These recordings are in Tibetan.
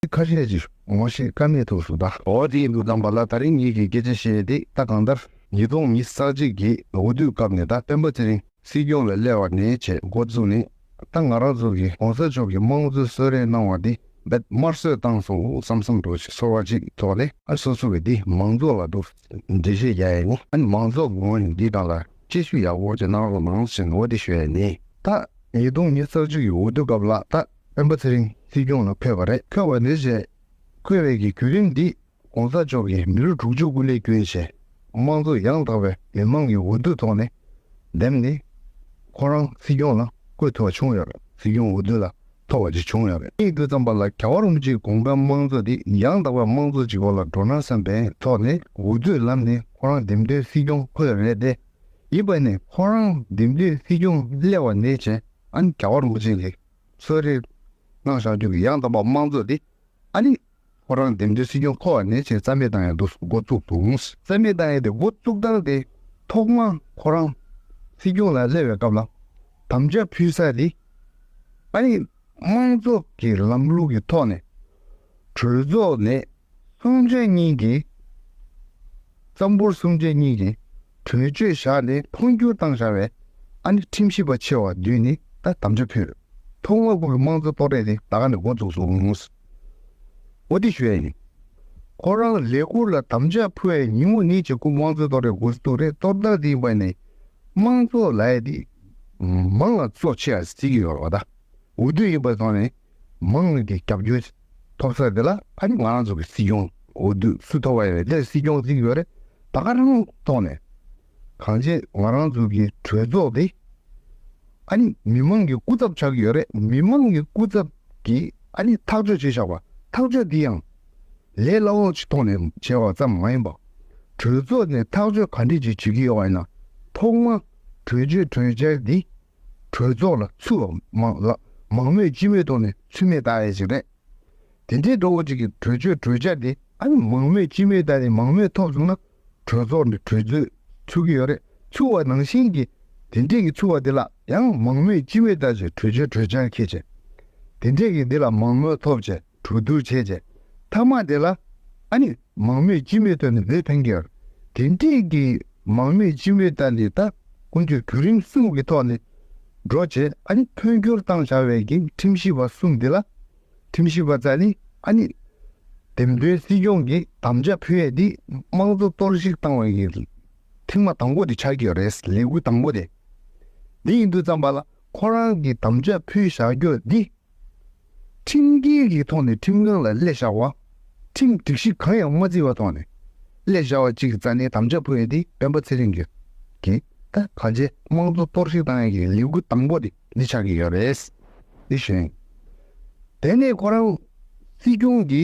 ཚིག་ཁ་ཤས་ཀྱིས་ངོ་ཤེས་དཀའ་མེད་ཐུགས་སུ་བདག། འོ་དེའི་འབུ་སྡམས་པ་ལ་ད་རིང་ཉིད་ཀྱིས་སྐད་ཆ་བཤད་དེ་ལྟ་གང་ལྟར། ཉིས་སྟོང་ཉིས་བརྩ་གཅིག་གི་འོས་བསྡུའི་སྐབས་ནས་ད་སྤེན་པ་ཚེ་རིང། སྲིད་སྐྱོང་བའི་ཀླད་བར་ནད་བྱས་འགོ་བཙུགས་ནས་ད་ང་རང་ཚོ་གི་གོང་ས་མཆོག་གི་དམངས་གཙོའི་གསོལ་རས་གནང་བ་དེ་འབད་དམར་གསོད་བཏང་སོང་བསམ་བསམ་འགྲོ་ཅིག་ཚོར་བ་ཅིག་ཐོག་ནས། ཨ་སོ་སོ་གི་དེ་མང་ཚོགས་ལ་དུ་འབྲེལ་བཤད་རྒྱ་ཡས་ནས་ཨ་ནི་མང་ཚོགས་གི་ངོས་ནས་འདི་དང་ལ་དཔྱད་ཞུ་ཡག་པོ་ཅིག་གནང་རོགས་གནང་བཞིན་འོ་དེ་ཞུས་ནས་ད། ཉིས་སྟོང་ཉིས་བརྩ་གཅིག་གི་འོས་བསྡུ་སྐབས་ལ་ད། སྤེན་པ་ཚེ་རིང་སྲིད་སྐྱོང་ལ་འཁོད་པ་རེད། འཁོད་པ་འདིར་རེད། འཁོད་རེད་ཀྱི་བརྒྱུད་རིམ་འདིས ྋགོང་ས་མཆོག་གིས་མི་ལོ་དྲུག་ཅུ་སྐུ་ལས་བསྐྱོན་རྗེས་དམངས་གཙོ་ཡང་དག་པའི་མི་མང་གི་འོས་བསྡུ་ཐོག་ནས་འདེམས་ནས་ཁོ་རང་སྲིད་སྐྱོང་ལ་བསྐོས་ཐུབ་པ་བྱུང་ཡོད་རེད་སྲིད་སྐྱོང་འོས་བསྡུ་ལ་ཐོབ་པ་ཅིག་བྱུང་ཡོད་རེད། སྙིང་དུ་བརྩམས་པ་ལ་ག་བར་རུང་ཅིག ྋགོང་པའི་དམངས་གཙོ་འདི་ཡང་དག་པའི་དམངས་གཙོ་ཅིག་ཡོང་ལ་འགྲོ་ན་བསམ་པའི་ཐོག་ནས་འོས་བསྡུའི་ལམ་ནས་ཁོ་རང་འདེམས་དོན་སྲིད་སྐྱོང་བསྐོས་རེད་དེ། ཡིན་པ་ནས་ཁོ་རང་འདེམས་དུས་སྲིད་སྐྱོང་སླེ་བ་ནས་བྱས་ཨ་ནི་གྲྭ་བ་རུ་ཆེན་གྱིས་གསོལ་རས་གནང་བཞག་རྒྱུ་འདུག་ཡང་དག་པ་དམངས་གཙོ་དེ་ཨ་ནི་ཁོ་རང་འདེམས་ཐོན་སྲིད་སྐྱོང་མཁོ་བ་ནས་ཆེད་རྩ་མེད་བཏང་ཡོད་འདུག་སུ་འགོ་བཙུགས་དུང་རྩ་མེད་བཏང་ཡོད་དེ་འགོ་བཙུགས་སྟངས་དེ་ཐོག་མར་ཁོ་རང་སྲིད་སྐྱོང་ལ་སླེབས་པའི་སྐབས་ལ་དམ་བཅའ་ཕུལ་ས་དེ་ཨ་ནི་དམངས་གཙོ་གི་ལམ་ལུགས་ཀྱི་ཐོག་ནས་གྲོས་ཚོགས་ནས་སུང་ཅན་གཉིས་ཀྱིས་རྩམ་ཕུར་སུམ་བརྒྱ་གཉིས་ཀྱི་གྲོས་ཆོད་བཞག་ནས་འཕོ་འགྱུར་བཏང་བཞག་པས་ཨ་ནེ་ཁྲིམས་ཞིབ་པ་ཆེ་བ་བདུན་ནི་ད་དམ་བཅའ་ཕུལ། ཐོག་མར་ཁོ་གི་དམངས་གཙོ་གཏོར་ཀྲད་དེ་ད་ག་ནས་འགོ་འཛུགས་སོང་ངོ། འོ་དེ་ཞུ་ཡ་ཡིན། ཁོ་རང་ལས་ཁུར་ལ་དམ་བཅའ་ཕུལ་བའི་ཉིན་མོ་ནི་བྱེད་སྒོ་དམངས་གཙོའི་གཏོར་ཀྲད་འགོ་འཛུགས་རེད་གཏོར་བདག་འདི་ཡིན་པ་ནི་དམངས་གཙོ་ལ་ཡ་དེ་མང་ལ་གཙོ་ཆེ་ཡ་ཟེར་གྱི་ཡོད་རེད་བ་ད་འོ་དུས་ཡིན་པ་དང་ནི་མང་གི་རྒྱབ་སྐྱོར་ཐོབ་ས་དེ་ལ་ཕ་རི་མངའ་ཚོགས་ཀྱི་སྲིད་སྐྱོང་འོ་བསྡུ་སུ་ཐོབ་པ་ཡིན་རེད་དེར་སྲིད་སྐྱོང་བརྩིགས་ཡོད་རེད་ད་ག་རང་ཐོག་ནས་གང་བྱས་ང་རང་ཚོ་གི་གྲོས་ཚོགས་དེ་ཨ་ནི་མི་མང་གི་སྐུ་ཚབ་ཆགས་ཀྱི་ཡོད་རེད་མི་མང་གི་སྐུ་ཚབ་ཀྱིས་ཨ་ནི་ཐག་གཅོད་བྱས་བཞག་པ་ཐག་གཅོད་དེ་ཡང་ལས་སླ་བོ་ཞིག་ཐོག་ནས་བྱས་བ་ཙམ་མ་ཡིན་པ་གྲོས་ཚོགས་ནས་ཐག་གཅོད་ག་འདྲི་བྱེད་ཀྱི་ཡོད་པ་ཡིན་ན་ཐོག་མ་གྲོས་ཆོད་གྲོས་འཆར་དེ་གྲོས་ཚོགས་ལ་ཚུད་པ་མང་ལ་མང་མོད་སྤྱི་མོས་ཐོག་ནས་ཚུད་མེད་ལྟ་ཡས་ཅིག་རེད། དེ་འདྲའི་གྲོགས་ཅིག་གིས་གྲོས་ཆོད་གྲོས་འཆར་དེ་མང་མོས་སྤྱི་མོས་ལྟ་ནས་མང་མོས་ཐོག་བཙུགས་ན་གྲོས་ཚོགས་འདི་གྲོས་ཚོད་ཚུད་ཀྱི་ཡོད་རེད་ཚུད་བ་ནང་བཞིན་གྱི་དེ་འདྲས་ཀྱི་ཚུད་བ་དེ་ལ་ཡང་མང་མོས་སྤྱི་མོས་ལྟ་ཅེས་གྲོས་ཆོད་གྲོས་འཆར་ཁེ་བྱས་དེ་འདྲས་ཀྱི་འདི་ལ་མང་མོས་ཐོབ་ཅེས་གྲོས་བསྡུར་བྱས་རྗེས་མཐའ་མ་དེ་ལ་མང་མོས་སྤྱི་མོས་ལྟ་ནི་མོས་འཕེན་གྱིར། དེ་འབྲེལ་གྱི་མང་མོས་སྤྱི་མོས་ལྟ་འདི་དག་ཀུན་སྤྱོད་བརྒྱུད་རིམ་གསུམ་གྱི་ཐོག་ནས་སྒྲོག་བྱེད་ཨ་ནི་འཕོ་འགྱུར་བཏང་བྱ་བའི་གི་ཁྲིམས་ཞིབ་པ་གསུམ་འདི་ལ་ཁྲིམས་ཞིབ་པ་རྩ་ནི་ཨ་ནི། འདེམས་ཐོན་སྲིད་སྐྱོང་གི་དམ་བཅའ་ཕུལ་བས་འདི་དམངས་གཙོ་གཏོར་བཤིག་བཏང་བའི་གི་ཐེངས་མ་དང་པོ་དེ་ཆགས་ཀྱི་རེད་ལས་འགུལ་དང་པོ་དེ་འདི་ཡིན་དུས་བརྩམས་པ་ལ་ཁོ་རང་གི་དམ་བཅའ་ཕུལ་བཞག་རྒྱུ་འདི་ཁྲིམས་འགལ་གྱི་ཐོག་ནས་ཁྲིམས་ཁང་ལ་སླད་བཞག་བ། ཁྲིམས་སྒྲིག་གཞི་གང་ཡང་མ་བརྩི་བའི་ཐོག་ནས་སླད་བཞག་བ་གཅིག་རྩ་ནས་དམ་བཅའ་ཕུལ་བ་དེ་སྤེན་པ་ཚེ་རིང་གིས་གངས་ཅན་དམངས་གཙོ་གཏོར་བཤིག་བཏང་ཡས་ཀྱི་ལས་འགུལ་དང་པོ་དེ་འདི་ཆགས་ཀྱི་ཡོད་རེད། དེ་བཞིན་དེ་ནས་ཁོ་རང་སྲིད་སྐྱོང་གི་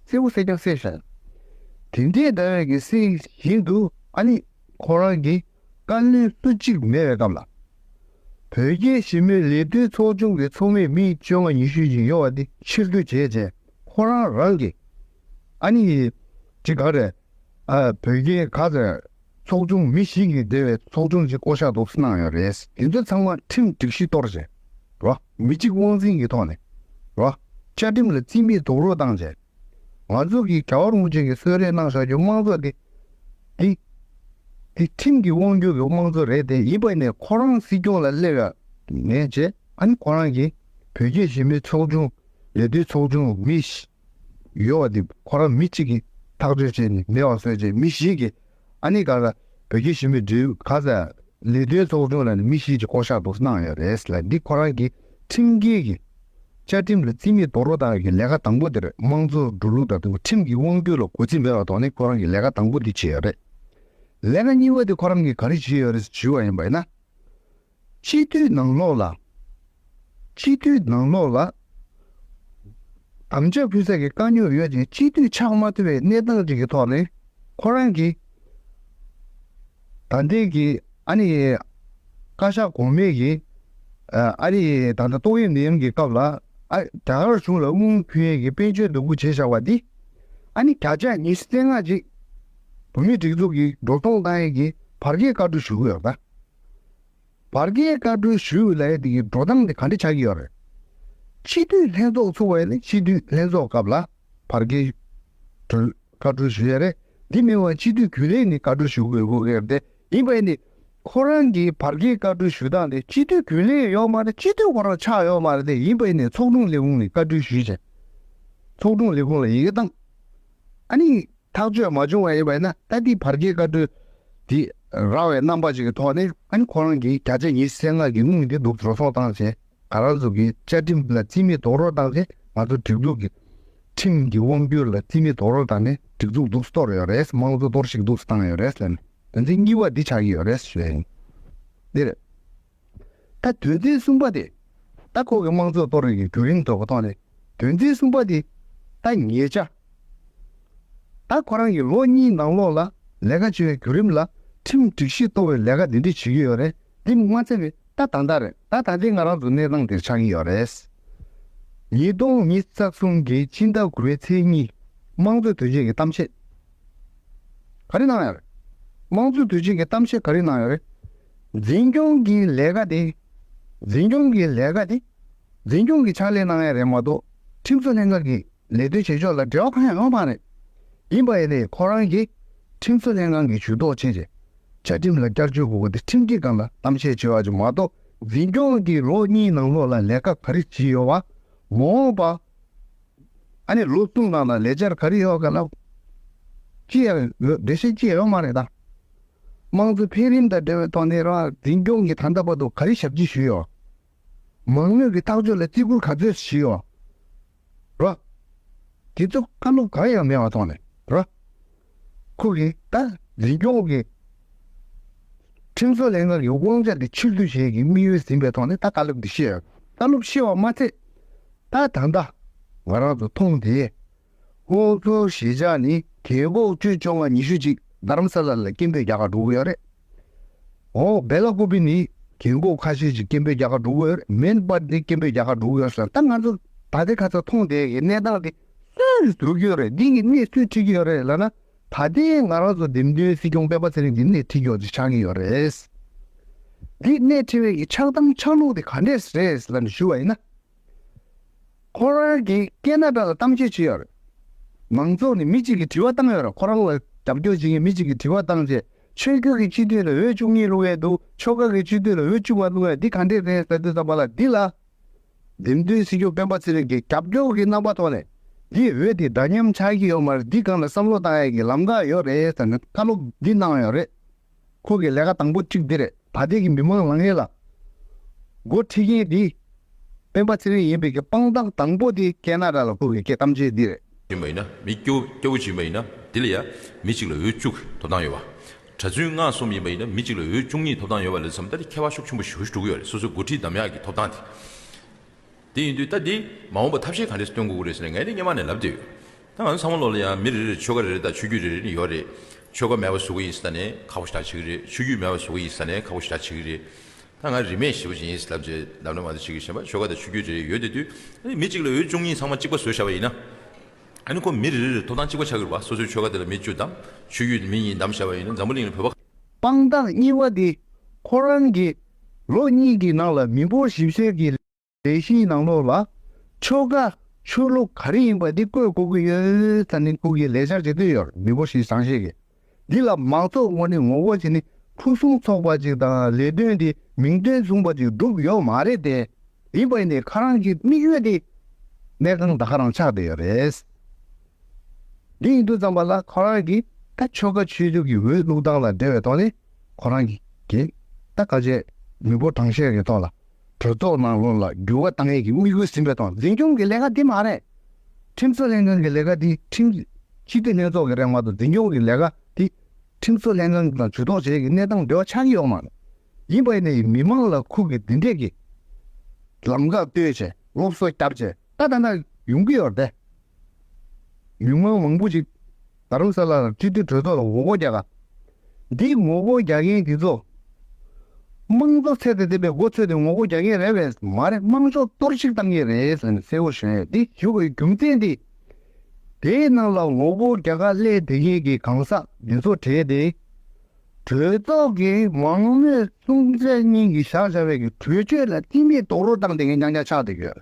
སེའུ་བསད་ཀྱང་བསད་སོང། དེ་འདྲའི་ཟླ་བའི་གེ་སེང་བཞིན་དུ་ཨ་ནི་ཁོ་རང་གི་བཀའ་བློན་སུ་གཅིག་མེད་པའི་སྐབས་ལ། བོད་རྒྱའི་ཞི་མོལ་ལས་དོན་ཚོགས་ཆུང་གི་ཚོགས་མི་མི་བཅོ་ལྔ་ཉི་ཤུ་ཞིག་ཡོང་བ་དེ་ཕྱིར་བསྡུ་བྱས་རྗེས་ཁོ་རང་རང་གིས་ཨ་ནི་ཡི་ཇི་གང་རེད། བོད་རྒྱའི་ཁ་བྲལ་ཚོགས་ཆུང་མི་ཞིག་གིས་སྡེ་བའི་ཚོགས་ཆུང་གཅིག་བསྐོ་གཞག་སྡུག་ས་གནང་ཡོད་རེད། དེ་ཚོ་ཚང་མ་ཁྲིམས་སྒྲིག་གཞི་གཏོར་བྱས། རོ། མི་གཅིག་དབང་འཛིན་གྱི་ཐོག་ནས། རོ། བཅའ་ཁྲིམས་ལ་རྩིས་མེད་དུག་རོ་བཏང་བྱས། ང་ཚོ་གིས་ག་བར་རྔུ་ཅན་གྱི་གསོལ་རས་གནང་བཞག་རྒྱུ་དམངས་གཙོ་དེ། དེ། དེ་ཁྲིམས་ཀྱི་དབང་སྒྱུར་གྱི་དམངས་གཙོ་རེད་དེ་ཡིན་པ་ནས་ཁོ་རང་སྲིད་སྐྱོང་ལ་སླེབས་ཡ་ནས་རྗེས་ཨ་ནི་ཁོ་རང་གིས་བོད་རྒྱའི་གཞིས་མི་ཚོགས་ཆུང་ལས་དོན་ཚོགས་ཆུང་མི་ཡོད་བ་འདི་ཁོ་རང་མི་གཅིག་གིས་ཐག་གཅོད་བྱས་ནས་མེད་བ་བཟོས་རྗེས་མི་ཞིག་གིས་ཨ་ནི་ག་ལ་བོད་ཀྱི་ཞི་མི་སྒྲིལ་ག་ས་ལས་དོན་ཚོགས་ཆུང་ལ་ནི་མི་ཞིག་གིས་བསྐོ་གཞག་འདུག་གནང་ཡོད་རེད་ལ་འདི་ཁོ་རང་གི་ཁྲིམས་འགལ་གྱི་བཅའ་ཁྲིམས་ལ་རྩིས་མེད་རྡོག་རོལ་བཏང་ཡོད་ཀྱི་ལས་ཀ་དང་པོ་འདིར་དམངས་གཙོ་འགྲོ་ལུགས་དང་དུས་ཁྲིམས་ཀྱི་དབང་སྒྱུར་ལ་གོ་རྩིས་མེད་པར་དོགས་ནས་ཁོ་རང་གིས་ལས་ཀ་དང་པོ་འདི་བྱས་ཡོད་རེད། ལས་ཀ་གཉིས་པ་འདི་ཁོ་རང་གིས་ག་རེ་བྱས་ཡོད་རེད་ཟེར་ཞུས་བ་ཡིན་པ་ཡིན་ན། སྤྱི་འཐུས་ནང་ལོགས་ལ། སྤྱི་འཐུས་ནང་ལོགས་ལ། དམ་བཅའ་ཕུལ་ས་ཀྱི་དཀའ་རྙོག་ཡོད་ཅིང་སྤྱི་འཐུས་ཆགས་མ་ཐུབ་པའི་གནས་སྟངས་ཅིག་གི་ཐོག་ནས་ཁོ་རང་གིས་ད་ཐེངས་ཀྱི་ཨ་རི་ཡི་བཀའ་ཤག་གོང་མས་ཀྱི་ཨ་རི་ཡི་ད་ལྟ་ཏོག་དབྱིབས་ནད་ཡམས་ཀྱི་སྐབས་ལ་རྒྱ་གར་གཞུང་ལ་དབུས་བོད་ཡིག་གི་དཔེ་བྱོལ་འདོད་སྐུལ་བྱས་བཞག་པ་འདི་ཨ་ནི་བརྒྱ་ཆ་ཉི་ཤུ་རྩེ་ལྔ་གཅིག་བོད་མིའི་སྒྲིག་འཛུགས་ཀྱི་འགྲོ་སྟངས་དང་ཡིག་གི་བར་ཁྱད་བཀའ་བསྒྲུབ་ཞུ་གི་ཡོད་པ། བར་བརྒལ་བཀའ་འཁྲོལ་ཞུ་འོས་ལ་ཡ་དེ་གི་འགྲོ་སྟངས་དེ་ག་འདྲི་ཆགས་ཀྱི་ཡོད་རེད། སྤྱི་འཐུས་ལྷན་ཚོགས་ཚུགས་པ་ཡིན་ན་སྤྱི་འཐུས་ལྷན་ཚོགས་སྐབས་ལ་བར་བརྒལ་བཀའ་འཁྲོལ་ཞུ་ཡ་རེད་དེ་མིན་བར་སྤྱི་འཐུས་རྒྱུན་ལས་ནས་བཀའ་འཁྲོལ་ཞུ་དགོས་དགོས་ངེས་རེད་ཡིན་པ་ཡིན་ཏེ། ཁོ་རང་གི་བར་བརྒལ་བཀའ་འཁྲོལ་ཞུ་སྟངས་དེ་སྤྱི་འཐུས་རྒྱུན་ལས་ཡོག་མ་རེད་སྤྱི་འཐུས་ཁོ་རང་ཆགས་ཡོག་མ་རེད་དེ་ཡིན་པ་ཡིན་ནས་ཚོགས་དྲུང་ལས་ཁུངས་ནས་བཀའ་འཁྲོལ་ཞུས་བྱས། ཚོགས་དྲུང་ལས་ཁུངས་ལ་ཡི་གེ་བཏང། ཨ་ནི། ཐག་གཅོད་མ་བྱུང་བ་ཡིན་པས་ན་ཨ་ཏི་བར་གྱི་བཀའ་ཁྲོལ་དེ་ར་བའི་རྣམ་པ་ཞིག་གི་ཐོག་ནས་ཨ་ནི་ཁོ་རང་གིས་བརྒྱ་ཆ་ཉི་ཤུ་ཚན་ལྔ་གི་དངུལ་འདི་སྡུག་གྲོགས་སོང་སྟངས་བྱས་ག་རང་ཚོ་གིས་བཅའ་ཁྲིམས་ལ་རྩིས་མེད་རྡོག་རོལ་བཏང་སྟེ་ང་ཚོ་སྒྲིག་འཛུགས་ཀྱི་ཁྲིམས་ཀྱི་དབང་བསྒྱུར་ལ་རྩིས་མེད་རྡོག་རོལ་བཏང་ནས་སྒྲིག་འཛུགས་སྡུགས་སུ་གཏོར་ཡོད་རེད་དམངས་གཙོ་གཏོར་བཤིག་སྡུགས་སུ་བཏང་ཡོད་རེད་ཟེར་ནས་དོན་ཚན་གཉིས་པ་འདི་ཆགས་ཀྱི་ཡོད་རེད་ཟེར། འདིར། ད་དོན་ཚན་གསུམ་པ་དེ་ལྟ་ཁོག་གི་དམངས་གཙོ་གཏོར་རིགས་ཀྱི་བརྒྱུད་རིམ་དོར་བ་དང་ལས་དོན་ཚན་གསུམ་པ་དེ་ལྟ་ངེས་ཆ་ད་ཁོ་རང་གི་ལོ་གཉིས་ནང་ལོགས་ལ་ལས་ཀ་བྱས་བའི་བརྒྱུད་རིམ་ལ་ཁྲིམས་སྒྲིག་གཞི་གཏོར་བའི་ལས་ཀ་འདི་འདྲི་བྱེད་ཀྱི་ཡོད་རེད་འདི་མ་ཚད་པའི་ད་ད་ལྟ་རེད་ད་ད་དེ་ང་རང་ཚོ་གནས་སྟངས་འདིར་ཆགས་ཀྱི་ཡོད་རེད། ཉིས་སྟོང་ཉིས་བརྩེགས་གསུམ་གྱི་ཕྱི་ཟླ་དགུ་བའི་ཚེས་གཉིས་དམངས་གཙོའི་དོན་ཆེན་གྱི་གཏམ་བཤད་ག་རེ་གནང་ཡོད་རེད་དམངས་གཙོའི་དོན་ཆེན་གྱི་གཏམ་བཤད་ག་རེ་གནང་ཡོད་རེད། འཛིན་སྐྱོང་གི་ལས་ཀ་དེ། འཛིན་སྐྱོང་གི་ལས་ཀ་དེ། འཛིན་སྐྱོང་གི་ཕྱག་ལས་གནང་ཡས་རེད་མ་གཏོགས་ཁྲིམས་བཟོ་ལྷན་ཁང་གི་ལས་དོན་བྱེད་ཕྱོགས་ལ་འབྲེལ་བ་གང་ཡང་ཡོང་ཐང་རེད། ཡིན་པ་ཡིན་ནའི་ཁོ་རང་གིས་ཁྲིམས་བཟོ་ལྷན་ཁང་གི་ཇུས་གཏོགས་བྱས་རྗེས་བཅའ་ཁྲིམས་ལ་བསྐྱར་བཅོས་དགོས་པ་དེ་ཁྲིམས་སྒྲིག་ཁང་ལ་གཏམ་བཤད་བྱས་བ་ཅིག་མ་གཏོགས་འཛིན་སྐྱོང་གིས་ལོ་གཉིས་ནང་ལོགས་ལ་ལས་ཀ་ག་རེ་བྱས་ཡོད་བ་མ་འོངས་པ་ཨ་ནི་ལོ་གསུམ་ནང་ལ་ལས་འཆར་ག་རེ་ཡོད་ག་ལ་ཅི་ཡང་འགྲེལ་བཤད་ཅི་ཡང་ཡོད་མ་རེད་ད། དམངས་གཙོ་འཕེལ་རིམ་དང་འབྲེལ་བའི་ཐོག་ནས་རང་འཛིན་སྐྱོང་གི་ད་ལྟ་བར་དུ་ག་རེ་ཞབས་ཕྱི་ཞུས་ཡོད། མང་མོས་ཀྱི་ཐག་གཅོད་ལ་བརྩི་བཀུར་ག་ཚོད་ཞུས་ཡོད། རོ། དེ་ཚོའི་བཀའ་སློབ་གང་ཡང་མེད་པ་ཐོག་ནས་རོ། ཁོ་གིས་ད་འཛིན་སྐྱོང་གི་ཁྲིམས་བཟོ་ལས་ཁང་གི་དབང་ཆ་དེ་ཕྱིར་བསྡུ་བྱེད་ཀྱི་དམིགས་ཡུལ་ཟིན་པའི་ཐོག་ནས་ད་བཀའ་སློབ་འདི་ཤེས་ཡོད། བཀའ་སློབ་ཤེས་བ་མ་ཚད་ད་ད་ལྟ་ང་རང་ཚོ་མཐོང་དེ་དབུལ་སྐྱོར་གཞིས་ཆགས་ནི་གེ་ལྐོག་བཅོས་བཅོ་ལྔ་ཉི་ཤུ་གཅིག་རྡ་རམ་ས་ལ་ལ་སྐྱེ་འཕེལ་རྒྱ་གར་འགྲོ་གི་ཡོད་རེད། འོ་བེ་ལ་ཀོ་བི་ནི་གེ་ལྐོག་ཁ་ཤས་ཀྱི་སྐྱེ་འཕེལ་རྒྱ་གར་འགྲོ་གི་ཡོད་རེད་མེན་པར་ནི་སྐྱེ་འཕེལ་རྒྱ་གར་འགྲོ་གི་ཡོད་ཟེར་ད་ང་ཚོ་ད་ལྟའི་ཁ་ཚ་ཚོང་སྡེ་གི་གནས་སྟངས་དེ་སུས་བཟོ་གི་ཡོད་རེད་འདི་གི་གནས་སུས་ཁྲིད་ཀྱི་ཡོད་རེད་ལ་ན་ད་ལྟའི་ང་རང་ཚོ་འདེམས་ཐོན་སྲིད་སྐྱོང་སྤེལ་པ་ཚེ་རིང་གི་གནས་ཁྲིད་ཀྱི་ཡོད་ཅེས་ཆགས་ཀྱི་ཡོད་རེད། འདི་གནས་ཁྲིད་མཁན་གྱི་ཆགས་གཏམ་ཆགས་ལུགས་དེ་ག་འདྲས་རེད་ལ་ན་ཞུ་བ་ཡིན་ན། ཁོ་རང་གིས་སྐད་ནག་པའི་ལ་གཏམ་བཤད་བྱས་ཡོད་རེད། མང་ཚོགས་ནས་མི་གཅིག་གིས་དྲི་བ་བཏང་ཡོད་རེད་ཁོ་རང་ལ་རྒྱབ་སྐྱོར་བྱེད་མཁན་མི་གཅིག་གིས་དྲི་བ་བཏང་རྗེས་ཆོས་རྒྱུད་ཀྱི་སྤྱི་འཐུས་ལ་འོས་བཅུ་གཉིས་བླུགས་ཡས་འདུག་ཆོལ་ཁ་གི་སྤྱི་འཐུས་ལ་འོས་བཅུ་བ་བླུགས་ཡས་འདི་ག་འདྲས་རེད་ཟེར་དུས་ཙམ་པ་ལ་འདི་ལ། འདེམས་ཐོན་སྲིད་སྐྱོང་སྤེན་པ་ཚེ་རིང་གིས་རྒྱབ་སྐྱོར་གྱི་རྣམ་པ་ཐོག་ནས་འདི་འོས་དེ་འདྲ་མཉམ་ཆགས་ཀྱི་ཡོད་མ་རེད་འདི་གང་ལ་བསམ་བློ་བཏང་ཡས་ཀྱི་ལམ་ཀ་ཡོད་རེད་ཟེར་ནས་བཀའ་སློབ་འདི་གནང་ཡོད་རེད། ཁོང་གི་ལས་ཀ་དང་པོ་གཅིག་འདི་རེད། ད་ལྟའི་གི་མི་མང་ལང་ཡེ་ལ། མགོ་ཁྲིད་མཁན་འདི། སྤེན་པ་ཚེ་རིང་ཡིན་པའི་གི་དཔང་རྟགས་དང་པོ་འདི་ཀེ་ན་ར་ལ་ཁུར་བའི་གི་གཏམ་འཆལ་འདི་རེད། ཡིན་པ་ཡིན་ན་མི་སྐྱོ་སྐྱོ་བོ་བྱིན་པ་ཡིན་ན་དེ་ལ་ཡ། མི་གཅིག་ལ་འོས་བཅུ་གི་ཐོབ་ཐང་ཡོད་བ། གྲ་བཙུན་ལྔ་གསུམ་ཡིན་པ་ཡིན་ན་མི་གཅིག་ལ་འོས་བཅུ་གཉིས་ཐོབ་ཐང་ཡོད་བ་ལས་བསམ་ད་དེ་ཁ་བ་ཤུགས་ཆེན་པོ་ཞུ་ཞུ་དྲུག་ཡོད་རེད་སོ་སོའི་མགོ་ཁྲིད་འདམ་ཡག་གི་ཐོབ་ཐང་དེ། དེ་ཡིན་དུས་ད་འདི་མ་འོངས་པ་ཐབས་ཤེས་གང་རེད་སྟོན་དགོས་ཀྱི་རེད་ཟེར་ནས་ངས་ནི་སྙན་མ་ནས་ལབ་བསྡད་ཡོད། ད་ང་ཚོ་ཚང་མ་ལོག་ལ་ཡང་མི་རེ་རེར་ཆོལ་ཁ་རེ་རེ་དང་ཆོས་བརྒྱུད་རེ་རེ་ནི་ཡོད་རེད། ཆོལ་ཁ་མེད་པར་བཟོ་གི་ཡིན་ཟེར་ད་ནི་ཁག་པོ་ཞིག་བྱེད་ཀྱི་རེད་ཆོས་བརྒྱུད་མེད་པར་བཟོ་གི་ཡིན་ཟེར་ད་ནི་ཁག་པོ་ཞིག་བྱེད་ཀྱི་རེད། ད་ང་རིས་མེད་ཞེ་པོ་ཅིག་ཡིན་ཟེར་ལབ་རྗེས་ལབ་ན་ང་ཚོ་ཅིག་གིས་གཞན་པ་ཆོལ་ཁ་དང་ཆོས་བརྒྱུད་རེ་རེ་ཡོད་བསྡད་དུས་མི་གཅིག་ལ་འོས་བཅུ་གཉིས་ཚང་མ་གཅིག་པ་བཟོས་བཞག་པ་ཡིན་ན། ད་ནི་ཁོ་མི་རེ་རེ་རེར་ཐོབ་ཐང་གཅིག་པ་ཆགས་ཀྱི་རེད་བ་སོ་སོའི་ཆོལ་ཁ་དེ་ལ་མི་བཅུ་བདམས་ཆོས་བརྒྱུད་དེ་མི་གཉིས་བདམས་བཞག་པ་ཡིན་ན་འཛམ་བུ་གླིང་ལ་བོད་པ་དཔང་རྟགས་གཉིས་པ་དེ་ཁོ་རང་གིས་ལོ་གཉིས་ཀྱི་ནང་ལ་མི་འབོར་ཞིབ་བཤེར་གྱི་དེ་བཞིན་ནང་ལོགས་ལ་ཆོ་ག་ཆོས་ལུགས་ག་རེ་ཡིན་པ་དེ་བཀོད་གོ་གི་ཡོད་ད་ནི་ཁུག་གི་ལས་འཆར་བྱེད་འདོད་ཡོད་མི་བོ་ཞིག་བཟང་ཤེས་གི་འདི་ལ་མང་ཚོགས་ངོ་ནས་ངོ་རྒོལ་བྱེད་ནི་ཕུགས་བསམ་ཚོགས་པ་ཅིག་དང་ལས་དོན་དེ་མིང་དོན་མཚུངས་པ་ཅིག་བསྒྲུབ་ཡོད་མ་རེད་དེ་ཡིན་པ་ཡིན་ནའི་ཁ་རང་གི་དམིགས་ཡུལ་དེ་གནས་ཁང་ད་ཁ་རང་ཆགས་བསྡད་ཡོད་རེད་འདི་ཡིན་དུས་ཙམ་པ་ལ་ཁོ་རང་གི་ད་ཆོ་ག་ཆོས་ལུགས་ཀྱི་འོས་བླུགས་སྟངས་ལ་འབྲེལ་བའི་ཐོག་ནས་ཁོ་རང་གི་ད་ག་ཅད་མི་བོ་དྲང་ཤེས་ཀྱི་ཐོག་ལ་གྲོས་ཚོགས་ནང་ལུང་ལ་འགྱུར་བ་གཏང་མཁན་གྱི་དམིགས་ཡུལ་ཟིན་པའི་ཐོག་འཛིན་སྐྱོང་གི་ལས་ཀ་འདི་མ་རེད། ཁྲིམས་བཟོ་ལྷན་ཁང་གི་ལས་ཀ་འདི་ཁྲིམས། སྤྱི་འཐུས་ལྷན་ཚོགས་ཀྱི་རེ་བ་དང་འཛིན་སྐྱོང་གི་ལས་ཀ་འདི། ཁྲིམས་བཟོ་ལྷན་ཁང་དང་ཇུས་གཏོགས་བཅས་ཀྱི་གནས་སྟངས་འབྲེལ་བ་ཆགས་ཀྱི་ཡོད་མ་རེད། ཡིན་པ་ནི་མི་དམངས་ལ་ཁུར་གྱི་འདི་འདྲས་ཀྱི། ལམ་འགག་གཏོད་བྱས་སློབ་གསོ་བསྐྱར་བཅས་ཏག་ཏག་ཡོང་གི་ཡོད་རེད། ཉུང་མ་མང་པོ་ཞིག་དར་རུ་ས་ལ་བཀྲིས་ཏེ་གྲོས་ཚོགས་ལ་ངོ་རྒོལ་རྒྱག་ག། འདིའི་ངོ་རྒོལ་རྒྱག་མཁན་དེ་ཚོ། དམངས་གཙོ་ཚད་དང་ལྡན་པའི་མགོ་ཚོས་ཏེ་ངོ་རྒོལ་རྒྱག་མཁན་རེད་བས་མ་རེད་དམངས་གཞུང་གཏོར་བཤིག་བཏང་མཁན་རེད་ཟེར་ནས་གསལ་བོ་བཤད་ཡོད་དེ་ཞུ་བའི་རྒྱུ་མཚན་དེ། དེའི་ནང་ལ་ངོ་རྒོལ་རྒྱག་ག་སླད་དེ་མཁན་གྱི་གང་ཟག་འདི་ཚོ་བྲེད་དེ། གྲོས་ཚོགས་ཀྱི་མང་མོས་སྲུང་བྱེད་གཉིས་ཀྱི་བཞག་བྱ་བའི་གྲོས་ཆོད་ལ་རྩིས་མེད་རྡོག་རོལ་བཏང་སྟེ་ངན་རྐྱང་རྐྱང་ཆགས་སྡོད་ཡོད།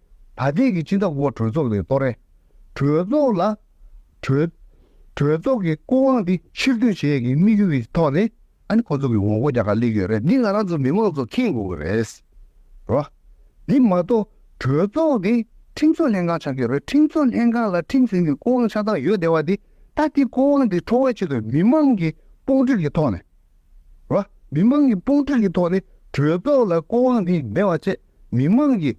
ད་ཐེངས་ཀྱི་སྤྱི་ཟླ་དགུ་བ་གྲོས་ཚོགས་ནི་ཏོ་རེད། གྲོས་ཚོགས་ལ་གྲོས། གྲོས་ཚོགས་ཀྱི་སྐུ་དབང་དེ་ཕྱིར་འདོན་བྱེད་ཡག་གི་དམིགས་ཡུལ་གྱི་ཐོག་ནས་ཨ་ནི་ཁོ་ཚོ་གི་ངོ་རྒོལ་རྒྱག་ག་ལེགས་ཡོད་རེད་འདི་ང་རང་ཚོ་མི་མང་ཚོ་མཁྱེན་དགོས་གི་རེད། རོ། དེ་མ་གཏོགས་གྲོས་ཚོགས་དེ་ཁྲིམས་བཟོ་ལྷན་ཁང་ཆགས་ཀྱི་རེད་ཁྲིམས་བཟོ་ལྷན་ཁང་ལ་ཁྲིམས་འཛིན་གྱི་སྐུ་དབང་ཆགས་སྟངས་ཡོད་བསྡད་བ་དེ་ད་དེ་སྐུ་དབང་དེ་འཕྲོ་བའི་ཆེད་དུ་མི་མང་གི་དཔུང་སྒྲིག་གི་ཐོག་ནས། བ། མི་དམངས་ཀྱི་དཔུང་སྡེ་ཀྱི་ཐོག་ནས་གྲོས་ཚོགས་ལ་བསྐོ་བ་ནི་མེད་པ་བཅས་མི་དམངས་ཀྱི་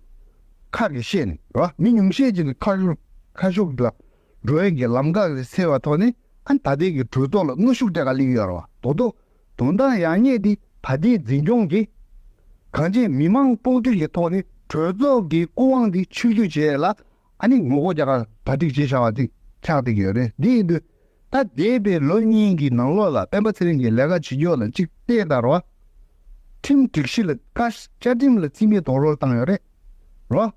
ཁག་གི་ཤེས་ནི་བ་མི་ཉུང་ཤས་ཀྱི་ཁ་ཁ་ཤོག་ལ་འགྲོ་བའི་གི་ལམ་འགག་རེད་ཟེར་བ་ཐོག་ནས་ཨ་ད་ལྟའི་གི་གྲོས་ཚོགས་ལ་དངོས་ཤུགས་གྲལ་ག་ལེ་ཡོད་ར་བ་དོ་དོ་དོན་དག་ཡག་ཉེས་དེ་ད་ལྟའི་འཛིན་སྐྱོང་གི་གང་བྱས་མི་དམངས་དཔུང་སྡེ་ཀྱི་ཐོག་ནས་གྲོས་ཚོགས་ཀྱི་བསྐོ་བ་འདི་ཆུད་ཆུད་བྱས་ལ་ཨ་ནི་ངོ་ལྐོག་རྒྱ་གར་གྲ་སྒྲིག་བྱེད་བཞག་བ་དེ་ཁྱག་སྟེགས་ཡོད་རེད་འདི་ཡིན་དུས། ད་འདས་པའི་ལོ་གཉིས་ཀྱི་ནང་ལོགས་ལ་སྤེན་པ་ཚེ་རིང་གིས་ལས་ཀ་བྱེད་རྒྱུ་ལ་གཅིག་བལྟས་དང་རོགས། ཁྲིམས་སྒྲིག་གཞི་ལ་བཀའ་བཅའ་ཁྲིམས་ལ་རྩིས་མེད་རྡོག་རོལ་བཏང་ཡོད་རེད། རོགས།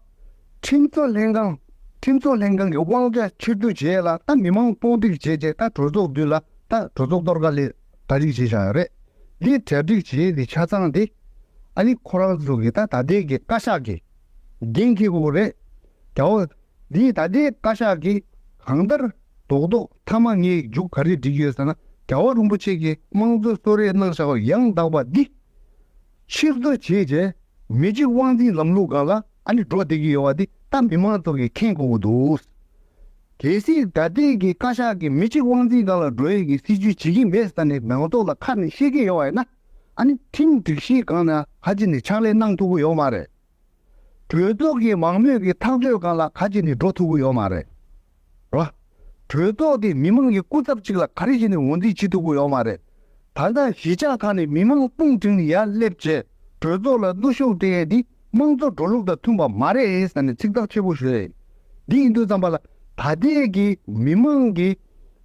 ཁྲིམས་བཟོ་ལྷན་ཁང་ཁྲིམས་བཟོ་ལྷན་ཁང་གི་དབང་ཆ་ཕྱིར་བསྡུ་བྱས་ལ་ད་མི་མང་སྟོང་སྒྲིག་བྱས་རྗེས་ད་གྲོས་ཚོགས་བསྡུས་ལ་ད་གྲོས་ཚོགས་གཏོར་ག་ལེར་གྲ་སྒྲིག་བྱེད་བཞག་ཡོད་རེད་འདི་གྲ་སྒྲིག་བྱེད་དེ་ཆ་ཚང་དེ། ཨ་ནི་ཁོ་རང་ཚོ་གིས་ད་ད་ལྟའི་གི་བཀའ་ཤག་གི། འགན་འཁྱེར་དགོས་པ་རེད། དགྲ་བོ་འདིས་ད་ལྟའི་བཀའ་ཤག་གིས་གང་ལྟར་རྡོག་རྡོག་མཐའ་མ་ངའི་རྒྱུགས་ག་རེ་བསྒྲིགས་ཡོད་ཟེར་ན་རྒྱལ་བ་རིན་པོ་ཆེ་གིས་དམངས་གཙོའི་གསོལ་རས་གནང་བཞག་པ་ཡང་དག་པ་འདི། ཕྱིར་བཟོ་བྱས་བྱས་མི་གཅིག་དབང་འཛིན་ལམ་ལུགས་སྒང་ལ་ཨ་ལི་འགྲོ་བསྡད་ཀྱི་ཡོད་པ་འདི་ད་མི་མང་ཚོགས་ཀྱིས་མཁྱེན་དགོས་པ་འདུག། གལ་སྲིད་ད་ལྟའི་གི་བཀའ་ཤག་གིས་མི་གཅིག་དབང་འཛིན་སྒང་ལ་འགྲོ་ཡས་ཀྱི་སྲིད་བྱུས་བྱེད་ཀྱི་མེད་ཟེར་ནས་མང་ཚོགས་ལ་ཁ་ནས་བཤད་ཀྱི་ཡོད་པ་ཡིན་ན། ཨ་ནི་ཁྲིམས་སྒྲིག་གཞི་རྐང་ན་ཁ་ཅིག་ནི་ཕྱག་ལས་གནང་ཐུབ་ཀྱི་ཡོད་མ་རེད། གྲོས་ཚོགས་ཀྱི་མང་མོས་ཀྱི་ཐག་གཅོད་རྐང་ལ་ཁ་ཅིག་ནི་འགྲོ་ཐུབ་ཀྱི་ཡོད་མ་རེད། རོ། གྲོས་ཚོགས་དེ་མི་མང་གི་སྐུ་ཚབ་ཅིག་ལ་ག་རེ་བཞིན་ནི་ངོས་འཛིན་བྱེད་ཐུབ་ཀྱི་ཡོད་མ་རེད། ད་ལྟ་གཞིས་ཆགས་ཁག་ནི་མི་མང་དཔུང་བསྒྲིགས་ནས་ཡར་སླེབས་རྗེས་གྲོས་ཚོགས་ལ་གནོད་ཤུགས་སྤྲད་ཡས་འདི་དམངས་གཙོ་འགྲོ་ལུགས་དང་མཐུན་པ་མ་རེད་ཟེར་ནས་ཚིག་ཐག་ཆོད་པོ་ཞུ་ཡས་འདི་ཡིན་དུས་བརྩམས་པ་ལ་ད་ལྟའི་གི་མི་མང་གི་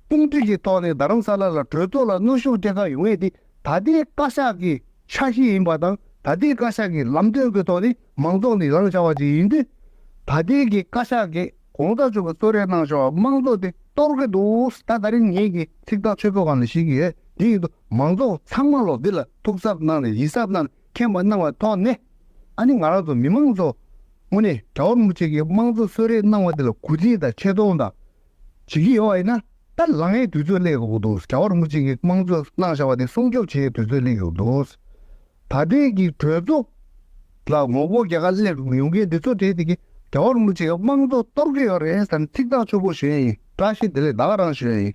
དཔུང་སྒྲིག་གི་ཐོག་ནས་རྡ་རམ་ས་ལ་ལ་གྲོས་ཚོགས་ལ་གནོད་ཤུགས་སྤྲད་ཁག་ཡོང་ངེས་དེ་ད་ལྟའི་བཀའ་ཤག་གི་འཆར་གཞི་ཡིན་པ་དང་ད་ལྟའི་བཀའ་ཤག་གི་ལམ་སྟོན་གི་ཐོག་ནས་མང་ཚོགས་ནས་ལངས་བྱ་བ་ཅིག་ཡིན་དུས། ད་ལྟའི་གི་བཀའ་ཤག་གིས་གོང་ས་མཆོག་གི་གསོལ་རས་གནང་བྱ་བ་མང་ཚོགས་དེ་གཏོར་གི་འདུག་ད་ད་རིང་ངེད་ཀྱི་ཚིག་ཐག་ཆོད་པོ་གང་ལ་ཞིག་ཡོད་དེ་ཡིན་དུ་མང་ཚོགས་ཚང་མ་ལོ་འདི་ལ་ཐུགས་གཟབ་གནང་ནས་ཡིད་གཟབ་གནང་ནས་མཁྱེན་པ་གནང་བའི་ཐོག་ནས་ཨ་ནི་ང་རང་ཚོ་མི་མང་ཚོ་དངོས་གནས་དགྲ་བོར་མི་བྱེད་ཀྱི་དམངས་གཙོ་གསོལ་རས་གནང་བ་འདི་ལ་གུས་བརྩི་དང་ཆེ་མཐོང་དང། བྱེད་ཀྱི་ཡོད་པ་ཡིན་ན་ད་ལ་ང་ཡི་དུས་ཚོད་གླེང་ཡོང་གི་འདུག་རྒྱ་བལ་མུ་ཅིག་གིས་དམངས་གཙོ་གནང་བཞག་པ་དེ་སྲུང་སྐྱོབ་བྱེད་ཡའི་དུས་ཚོད་གླེང་ཡོང་གི་འདུག་ད་ཐེངས་ཀྱི་གྲོས་ཚོགས་ལ་ངོ་བོ་རྒྱ་གར་གླེང་མི་ཡོང་མཁན་འདི་ཚོ་དེ་དེང་གི་རྒྱ་བལ་མུ་ཅིག་གིས་དམངས་གཙོ་གཏོར་གི་ཡོད་རེད་ཟེར་ནས་ཚིག་ཐག་ཆོད་པོ་ཞུ་ཡ་ཡིན་བཀྲ་ཤིས་བདེ་ལེགས་ད་ག་རང་ཞུ་ཡ་ཡིན།